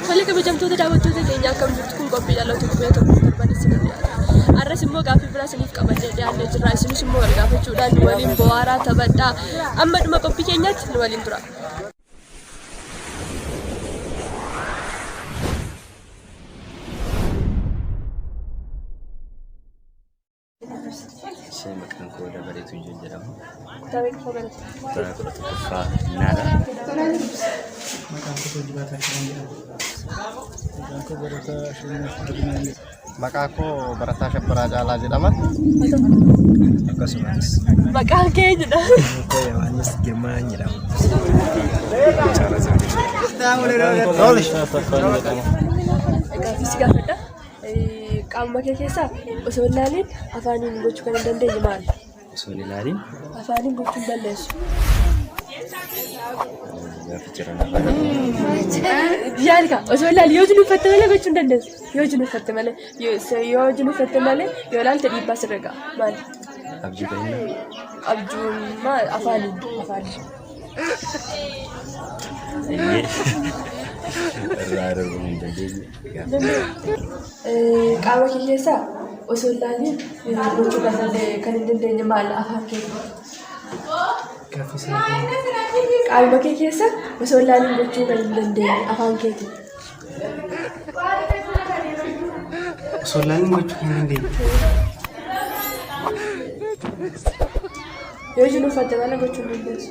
Haala kabajamtoota daawwattoota keenya akkam jirtu kun qophii dhaloota qubee tokko darbanii si mul'ata. Arras immoo gaaffii biraa isiniif qabannee dhiyaannee jirra. Isinis immoo wal gaafachuudhaan nu waliin bohaaraa taphadhaa. Amma dhuma qophii keenyaatti nu waliin tura. Ishee maqaan koo dabalee tuyyuu jedhama. Kutaa kudha tokkoffaa naadha. Maqaan koo Hojii Baataa Kiran jedhama. Maqaan koo Barataa Shirinaaf Guddinaan jedhama. Maqaa koo Barataa Kabbaraa Caalaa jedhama. Akkasumas. Maqaan kee jedha. Koo Yohaannis Girmaa jedhama. Gaaffiis gaafadha. Qaamuma kee keessaa osoo hin laaliin afaaniin gochuu kan hin dandeenye maali? osoo hin ilaalin Afaaniin bulchuun balleessu. gaafa jiran afaan Yaad kaa osoo ilaali yoo jinuuffatte malee gochuu hin dandeessu. Yoo jinuuffatte malee yoo se- yoo jinuuffatte malee yoo ilaalte dhiibbaa sirra ga'a. Maali? abjuu ta'inna Abjuun maal afaaniin afaaniin. irraa darbuu hin dandeenye. Qaama kee keessaa osoo hin laaliin gochuu kan danda'e kan hin dandeenye maal afaan kee? Qaama kee keessa osoo hin laaliin gochuu kan hin dandeenye afaan keeti. Osoo hin laaliin gochuu kan hin dandeenye. Yoo jiruuf adda baana gochuu hin dandeessu.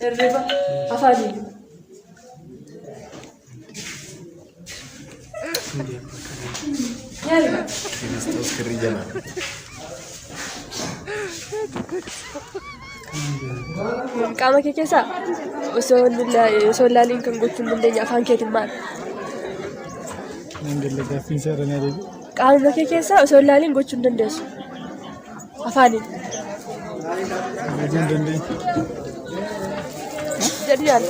Hirriba afaaniin. Yaari ba'a. Kiristoos kirrii jalaa. Qaama kee keessaa osoo hin lilla- osoo hin laaliin kan gochuu hin dandeenye afaan keetiin maal? Nan galla gaaffiin isaa irra na deebi'e. Qaama kee keessaa osoo hin laaliin gochuu hin dandeessu. Afaaniin. Kabajaan dandeetti. Jedhu yaala.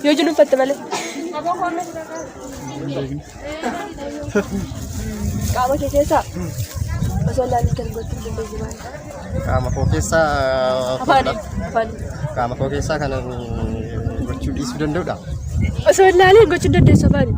Yoo jiru uffatte malee. Qaama kee keessaa osoo ilaalin kan gochuu dandeessu maali? Qaama koo keessaa Afaaniin. Afaaniin. qaama koo keessaa kan gochuu dhiisuu danda'udha. Osoo ilaalin gochuu dandeessu afaaniin.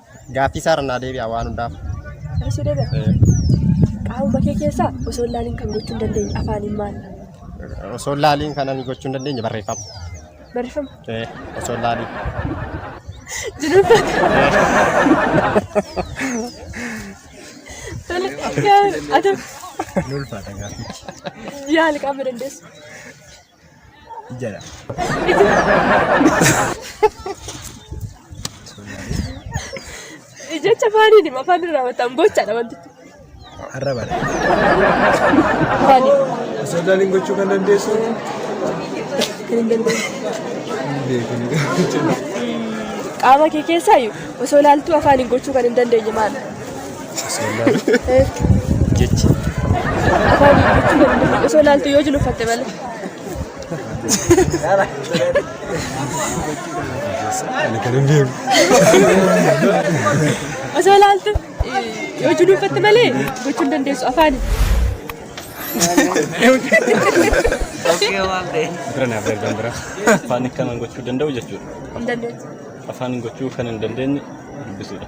Gaaffii isaarra naa deebi'a waan hundaaf. Harrasuu deebi'a. Qaama bakee keessaa osoo hin laaliin kan gochuu hin dandeenye afaaniin maal? Osoo hin laaliin kan ani gochuu hin dandeenye barreeffama. Barreeffama. Eh, Osoo hin laaliin. Jiruun Tole, yaa- ati Ni ulfaata gaaffichi. yaali qaama dandeessu. Ijala. Jecha afaaniin hima afaan irraa wataan gochaadha wantichi. Arrabadha. Afaaniin. Osoo daaliin gochuu kan dandeessu. Qaama kee keessaayyuu osoo ilaaltuu afaaniin gochuu kan hin dandeenye maal? Jechi. Osoo ilaaltu yoo jilu uffatte malee. Ani kan hin beeku. Osoo ilaaltu yoo jilu uffatte malee gochuu hin dandeessu afaani. Bira naaf darban bira. Afaan kanan gochuu danda'u jechuudha. Hin dandeessu. Afaan gochuu kan hin dandeenye dubbisuudha.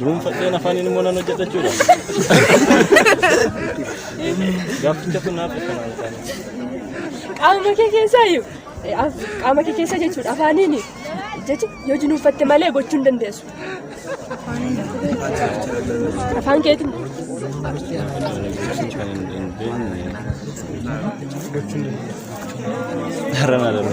Dhuunfadheen afaaniin immoo nan hojjedha jechuudha. Gaafficha kun naaf ibsa naan isaanii. qaama kee keessaa iyyuu eh, af- qaama kee keessa jechuudha afaaniin jechi yoo jinuunfatte malee gochuu hin dandeessu. Afaan keetiin Kan hin dandeenye. Har'a na darbe.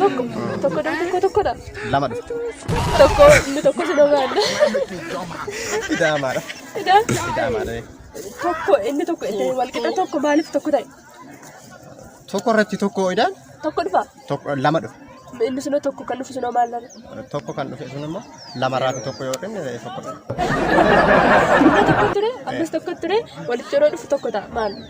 Tokko tokko dha tokko tokko dha. Lama dhufte. Tokko inni tokko si dhogaadha. Idaamaadha. Idaa Idaamaadha. tokko inni tokko inni wal qixa tokko maaliif tokko ta'e? Tokko irratti tokko idaan Tokko dhufa. tokko lama dhufe. Inni sunoo tokko kan dhufu sunoo maal dhala? Tokko kan dhufe sun immoo lama irraati tokko yoo dhufne tokko dhufe. Inni tokko ture ammas tokko ture walitti yeroo dhufu tokko ta'a maal?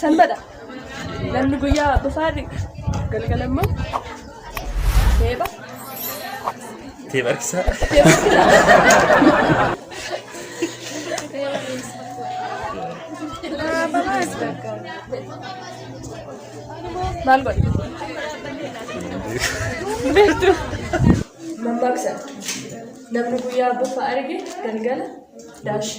Sanbata namni guyyaa bofaa dhiqa galgala immoo teepha Teepha harkisaa. maal godhe beektu mammaaksa namni guyyaa bofa arge galgala daashi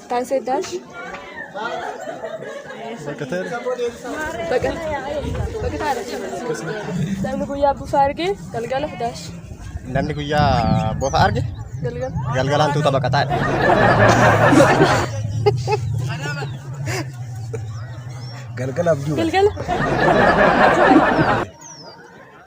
Taasee daash. Baqataa Baqataadha. Namni guyyaa bufa arge galgala daash. Namni guyyaa bofa arge Galgala. galgalaan tuuta baqataa. Galgala abjuu. Galgala.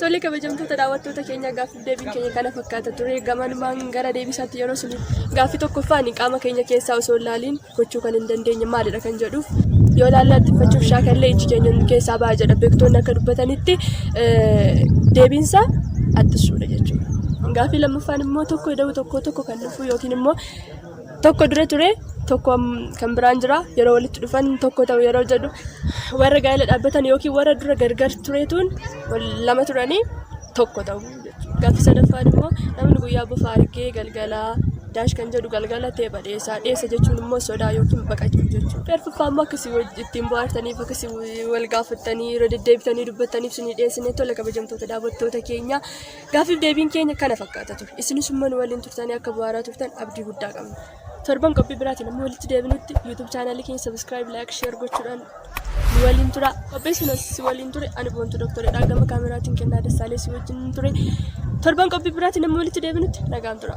Tole kabajamtoota daawwattoota keenya gaaffiif deebiin keenya kana fakkaata ture gamanumaan gara deebisaatti yeroo sun gaaffii tokkoffaan qaama keenya keessaa osoo hin laaliin gochuu kan hin dandeenye maalidha kan jedhuuf yoo laallaa xiffachuuf shaakallee iji keenya nu keessaa ba'a jedha beektoonni akka dubbatanitti deebiinsa attissuudha jechuudha. Gaaffii lammaffaan immoo tokko ida'uu tokko tokko kan dhufuu yookiin immoo Tokko dura ture tokko kan biraan jira yeroo walitti dhufan tokko ta'u yeroo jedhu warra gaa'ela dhaabbatan yookiin warra dura gargar tureetuun lama turanii tokko ta'u jechuudha. Gaaffii sadaffaan immoo namni guyyaa bofa argee galgalaa daash kan jedhu galgala ta'e badheessaa dheessa jechuun immoo sodaa yookiin baqachuu jechuudha. Garfuffaa immoo akkasii ittiin bohaartaniif akkasii wal gaafattanii irra deddeebitanii dubbattaniif sinii dhiyeessinee tola kabajamtoota daawwattoota keenya. Gaaffiif deebiin keenya kana fakkaata ture. Isinis immoo nu waliin turtanii akka bu'aaraa turtan abdii guddaa qabna. Torban qophii biraatiin amma walitti deebinutti YouTube chaanaalii keenya subscribe, like, share gochuudhaan nu waliin tura. Qopheessuunas si waliin ture. Ani boontuu doktoridha. Gama kaameraatiin kennaa dassaalee si wajjin ture. Torban qophii biraatiin amma walitti deebinutti nagaan tura.